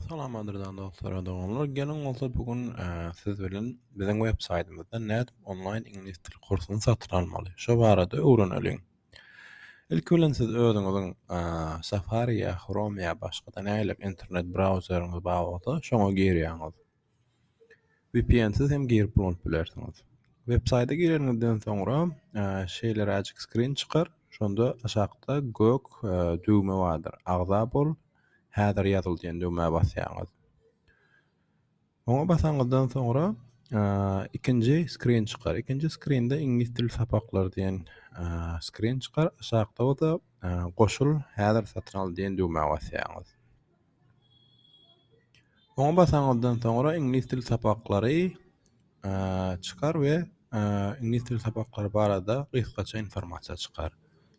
Salam gadyrdan dostlar we doganlar. Geliň bolsa bu gün siz bilen biziň web saýtymyzda nädip onlaýn iňlis dil kursuny satyn almaly? Şo barada öwreneliň. Ilki bilen siz özüňiziň Safari ýa Chrome ýa başga-da nähili internet brauzeriňiz bar bolsa şoňa girýäňiz. Vpnsiz hem girip ulanyp bilersiňiz. Web saýta gireniňizden soňra şeýleräjik skrin çykar. Şonda aşakda gök düwme bardyr. Agza bol, häzir ýazyl diýen düwmä basýaňyz. Oňa basanyňyzdan soňra ikinji skrin çykar. Ikinji skrinde iňlis dili sapaklary diýen skrin çykar. Aşakda bolsa goşul, häzir satyn al diýen düwmä basýaňyz. Oňa basaňyzdan soňra iňlis dili sapaklary çykar we iňlis dili sapaklary barada gysgaça informasiýa çykar.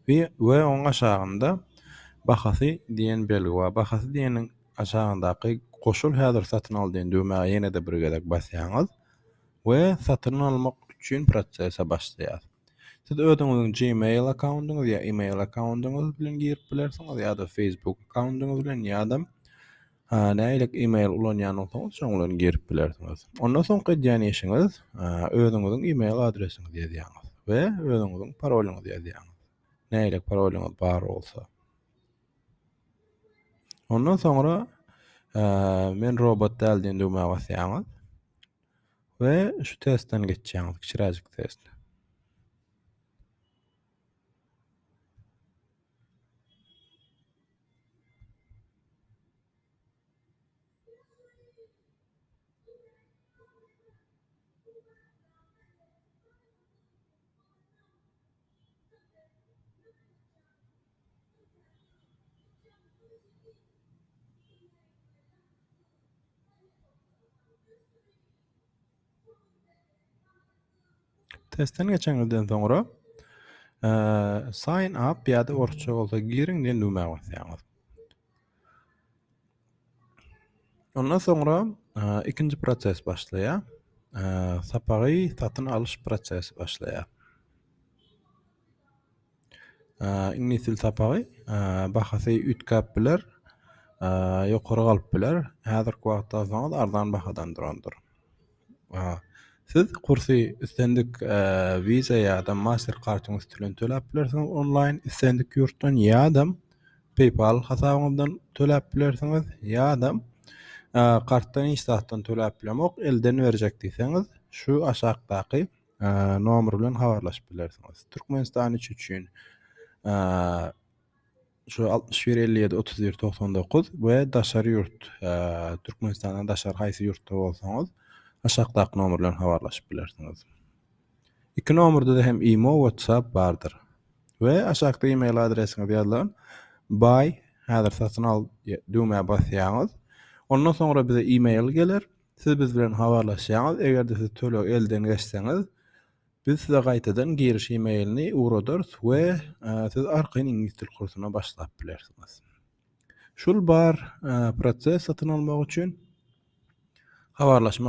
We, we oňa aşagynda bahasy diýen belgi bar. Bahasy diýeniň aşagyndaky goşul häzir satyn al diýen düwmäge ýene-de bir gezek basýaňyz. we satyn almak üçin prosese başlaýar. Siz özüňiziň Gmail akkaundyňyz ýa email akkaundyňyz bilen girip bilersiňiz ýa-da Facebook akkaundyňyz bilen ýa-da nähilirik email ulanýan bolsaňyz şoň bilen girip bilersiňiz. Ondan soňky edýän işiňiz özüňiziň email adresiňizi ýazýaňyz we özüňiziň parolyňyzy ýazýaňyz. Nähilirik parolyňyz bar bolsa. Ondan soňra men robot däl diýen düwmä basýaňyz. We şu testden geçýäňiz, kiçiräjik test. Testden geçeňizden soňra e, sign up ýa-da orçça bolsa giriň diýen düwmä basýaňyz. Ondan soňra e, ikinji proses başlaýar. E, sapagy satyn alyş prosesi başlaýar. Iňlis dil sapagy bahasy üýtgäp biler, ýokary galyp biler. Häzirki wagtda alsaňyz arzan bahadan durandyr. Siz kursy islendik Visa ýa-da Master kartyň üsti bilen töläp bilersiňiz onlaýn islendik ýurtdan ýa-da PayPal hasabyňyzdan töläp bilersiňiz ýa-da kartdan hiç zatdan töläp bilemok elden berjek diýseňiz şu aşakdaky Nomeri bilen habarlaşyp bilersiňiz. Türkmenistan üç üçin şu 61 57 31 99 we daşary ýurt Türkmenistandan daşary haýsy ýurtda bolsaňyz aşakdaky nomer bilen habarlaşyp bilersiňiz. Iki nomerde de hem imo, WhatsApp bardyr. We aşakda e-mail adresiňiz ýazylan buy häzir satyn al düwmä basýaňyz. Ondan soňra bize e-mail geler. Siz biz bilen habarlaşýaňyz, eger-de siz tölegi elden geçseňiz, biz size gaýtadan giriş e-mailini ugradarys we siz arkaýyn iňlis dil kursyna başlap bilersiňiz. Şul bar proses satyn almak üçin habarlaşmak